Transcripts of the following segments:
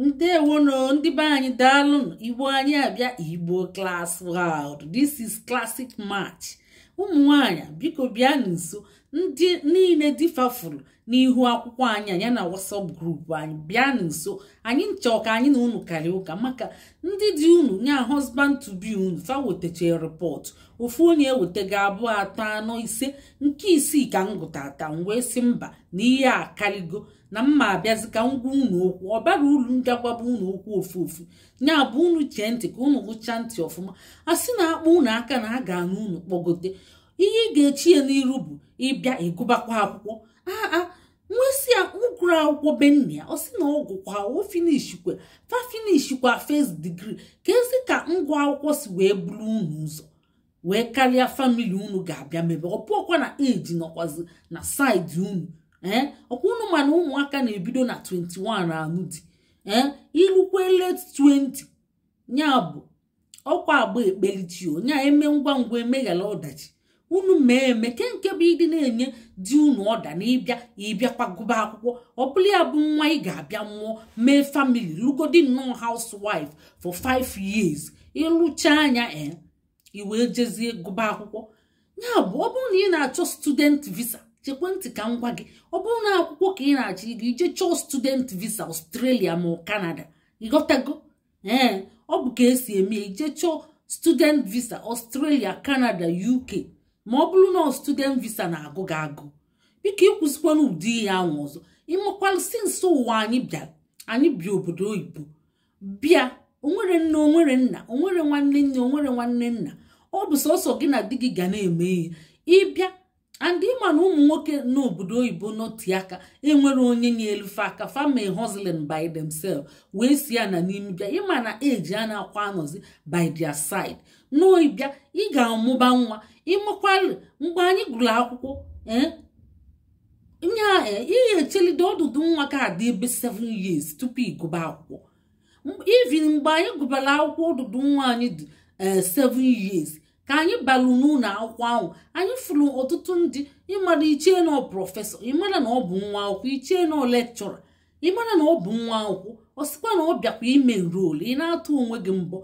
ndewonụ ndị be anyị daalụ igbo anyị abịa igbo class world this is classic match ụmụ nwanyị biko bịa nso ndị niile di fa fụrụ n'ihu akwụkwọ anyị nya na WhatsApp group anyị bịa nso anyị chọọ ka anyị na unu karịa ụka maka ndị di unu nya husband to be unu fa wetacha report ofu onye ewetaga abụọ atọ anọ ise nke isii ka m gụtata m wee sị mba na ihe a karịgo na mma abịazi ka m gwa unu okwu ọ bara uru m ga-agwaba unu okwu ofu ofu ya bụ unu chee ntị ka unu gụchaa ntị ọfụma a sị na a kpa unu aka na a ga-anụ unu kpọgote ihe ị ga-echi ya n'iru bụ ị bịa ị gụbakwa akwụkwọ aa m wee sị ya ọ gụrụ akwụkwọ be nna ya ọ sị na ọ gụkwa o finishkwa fa finishkwa first degree keezi ka ngwa akwụkwọ si wee buru unu ụzọ wee karịa family unu ga-abịa mebe ọ bụrọkwa na age nọkwazi na side unu ee eh? ọ kwa unu ma na ụmụaka na-ebido na 21 anụ di ee eh? i lukwa late 20 ya bụ ọ kwa agba ekpelechi o nya eme ngwa ngwa emeghara ọdachi unu mee eme kee nke bụ ị dị na-enye di unu order na ị bịa ị bịakwa gụba akwụkwọ ọ bụlụ ya bụ nwa ị ga-abịa mụọ mee family lụgodi nnọọ housewife for 5 years ị lụchaa nya e i wee jezie gụba akwụkwọ ya bụ ọ bụrụ na ị na-achọ student visa chekwa ntị ka m gwa gị ọ bụrụ na akwụkwọ ka ị na-achọ ịga i jee chọọ student visa Australia ma Canada ị ghọtago ee ọ bụ ka e si eme i jee chọọ student visa Australia Canada UK ma ọ bụrụ na student visa na-agụ gị agụụ biko i kwuzikwana ụdị ihe ahụ ọzọ ị makwalụ since ụwa anyị bịara anyị bi obodo oyibo bịa o nwere nne o nwere nna o nwere nwanne nne o nwere nwanne nna ọ bụ sọsọ gị na di gị ga na-eme ihe ị bịa and ị ma na ụmụ nwoke n'obodo oyibo nọti aka enwere onye nyelu fe aka fa mee hustling by themselves wee si ya na n'ime bịa ị ma na age anakwa anọzi by their side na ị bịa ị ga-amụba nwa ị makwalụ mgbe anyị gụrụ akwụkwọ ee eh, ihe a eh, ihe e chelide ọdụdụ nwa ka ọ dị ebe 7 years tupu ị gụba akwụkwọ even mgbe anyị gụbara akwụkwọ ọdụdụ nwa anyị dị 7 eh, years ka anyị balụ n'ụlọ akwụkwọ ahụ anyị fụrụ ọtụtụ ndị ị mara i chee na ọ professor ị mara na ọ bụ nwa akwụkwọ i chee na ọ lecturer ị mara na ọ bụ nwa akwụkwọ ọ sịkwa na ọ bịakwa ime enroll ị na-atụ onwe gị mbọ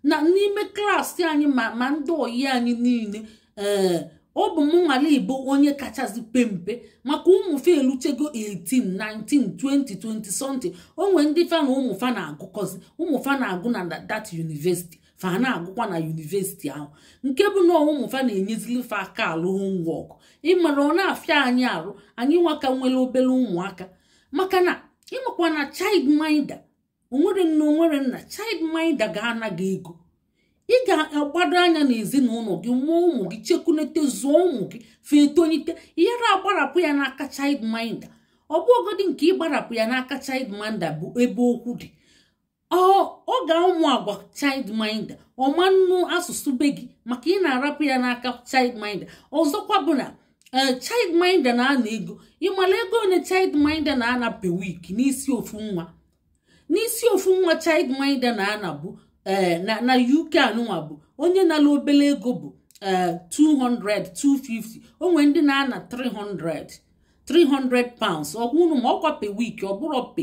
na n'ime class anyị ma ma ndị ọyị anyị niile ee eh, ọ bụ m nwale igbo onye kachasị pe mpe maka ụmụ fe eluchego 18 19 20 20 something o nwee ndị fa na ụmụ fa na-agụkọzi ụmụ fa na-agụ na that university fa na-agụkwa na university ahụ nke bụ na ụmụ fa na-enyezili fa aka alụ homework ị mara ọ na-afịa anyị arụ anyị nwa ka nwere obere ụmụaka maka na ịmakwa na child minder onwere nne onwere nna child minder ga-ana gị ego ị ga-agbado anya n'ezinụlọ gị mụọ ụmụ gị chekunete zụọ ụmụ gị fa etonyite ị ghara agbarapụ ya n'aka child minder ọ bụrọgodi nke ịgbarapụ ya n'aka child minder bụ ebe okwu dị ọ ga-amụ agwa child minder ọ ma-anụ asụsụ be gị maka ị na-arapụ ya n'aka child minder ọzọkwa bụ na ee child minder na-ana ego ịmala ego ole child minder na-ana per week n'isi ofu nwa n'isi ofu nwa child minder na-ana bụ ee na UK anụnwa bụ onye na-ana obele ego bụ ee 200 250 onwere ndị na-ana 300 300 pounds ọkwa unu ma ọkwa per week ọ bụrọ pe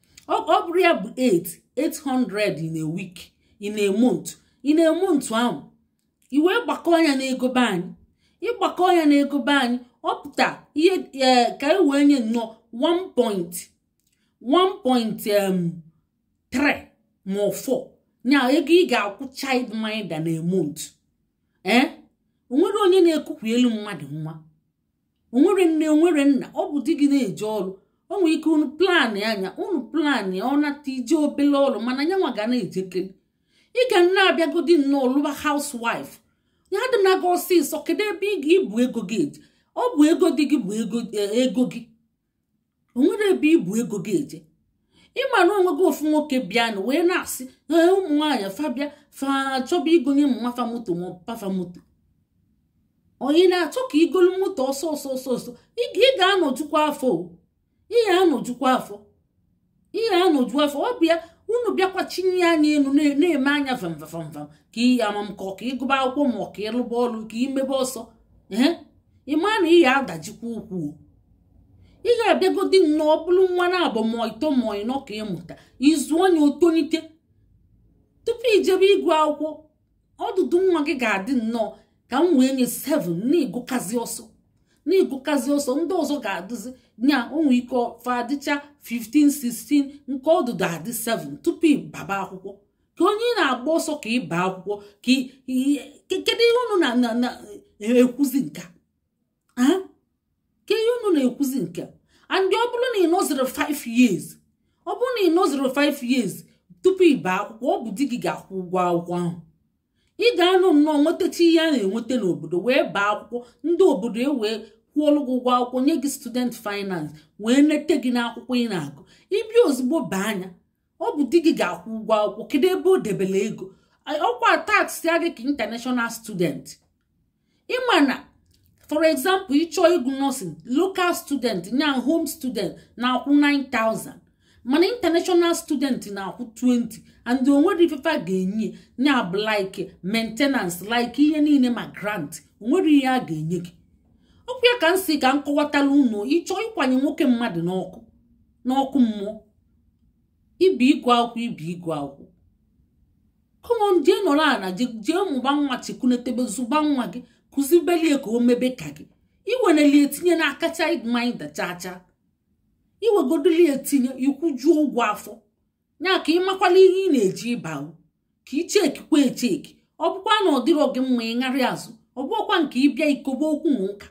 ọ bụrụ ya bụ 8 800 in a week in a month in a month ahụ i wee gbakọọ nya n'ego be anyị ị gbakọọ nya n'ego be anyị ọ pụta ihe eh, ka e wee nye nnọọ 1.1.3 ma ọ 4 nya ego ị ga-akwụ child minder na a month ee eh? onwere onye na-ekukwuelu mmadụ nwa onwere nne onwere nna ọ bụ di gị na-eje ọrụ o nwere ike unu planịa nya unu plan ya ọ nata i je obele ọrụ mana ya nwa ga na-ejekeri ị ga na-abịagodi nnọọ lụba housewife ya adịna gị ọsịsọ kedu ebe ị ga-ebu ego gị eje ọ bụ ego di gị bụ ego gị onwere ebe i bu ego gị eje ịma na onwego ofu nwoke bịa na wee na-asị ee ụmụ nwaanyị fa bịa fa chọba igonye mma fa moto ma pa fa moto onye ị na-achọ ka i golu moto ọsọ ọsọ ọsọ ọsọ ị ga-anọjukwa afọ ị ga-anọjukwa afọ ị ya-anọju afọ ọ bụ ya unu bịakwa chinie anya elu na-eme anya vamvamvam ka ihe amam kọ ka ịgụba akwụkwọ ma ọ ka ịlụba ọrụ ka imebe ọsọ ee ịma na ị ya-adajikwa ukwu ị ga-abịagodi nnọọ bulu nwa naabọ ma ịtọ ma ịnọ ka ị mụta ị zụọ nya o tolite tupu ijebe ịgụ akwụkwọ ọdụdụ nwa gị ga-adị nnọọ ka m wee nye 7 na ị gụkazi ọsọ na ị gụkazi ọsọ ndị ọzọ ga-adịzi nya onwe ike fa adịcha 15 16 nke ọdụdụ adị 7 tupu ịbaba akwụkwọ ka onye ị na-agba ọsọ ka ị baa akwụkwọ ka kedu ihe unu na-ekwuzi nka ka ihe unu na-ekwuzi nke and ọ bụrụ na ị nọzirọ 5 years ọ bụrụ na ị nọzirọ 5 years tupu ị baa akwụkwọ ọ bụ di gị ga-akwụ ụgwọ akwụkwọ ahụ ị ga-anọ nnọọ nwetacha ihe a na-enweta n'obodo wee baa akwụkwọ ndị obodo ewee kwụọlụ gị ụgwọ akwụkwọ nye gị student finance wee nete gị n'akwụkwọ ị na-agụ ị bịa ozugbo baa nya ọ bụ di gị ga-akwụ ụgwọ akwụkwọ kedu ebe o debere ego ọkwa taxịa gị ka international student ịma na for example ịchọọ ịgụ nursing local student nya home student na-akwụ 9000 mana international student na-akwụ 20 and o nwere ife fa ga-enye nya bụ like maintenance like ihe niile ma grant o nwere ihe a ga-enye gị ọkwa ya ka m sị ka m kọwatala unu ịchọ ịkwanye nwoke mmadụ n'ọkụ mmụọ ịbịa ịgụ akwụkwọ ịbịa ịgụ akwụkwọ come on jee nọrọ ana jee mụba nwa chiku netebe zụba nwa gị kụzibelie ka o mebe ka gị iwenelie etinye n'aka child mind chacha iwegodolie etinye ịkwụjuo ụgwọ afọ nya ka ịmakwala ihe ị na-eji ịba ka ichekikwa echeki ọ bụkwa na ọ dịrọ gị mma ịṅarị azụ ọ bụkwa nke ịbịa ikobe okwu na ụka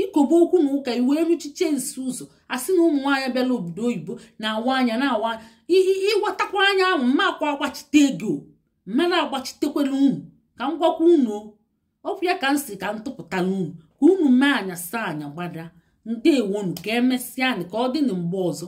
ikobe okwu na ụka iwee ruchiche nsi ụzọ a sị na ụmụ nwaanyị bịala obodo oyibo na-awa anya na-awa anya ịwatakwa anya ahụ mmakwa agbachite ego mmara agbachitekwana unu ka m gwakwa unu ọkwa ya ka m sị ka m tụpụtala unu ka unu mee anya saa anya gbada ndewonu ka emesịanị ka ọ dị na mgbe ọzọ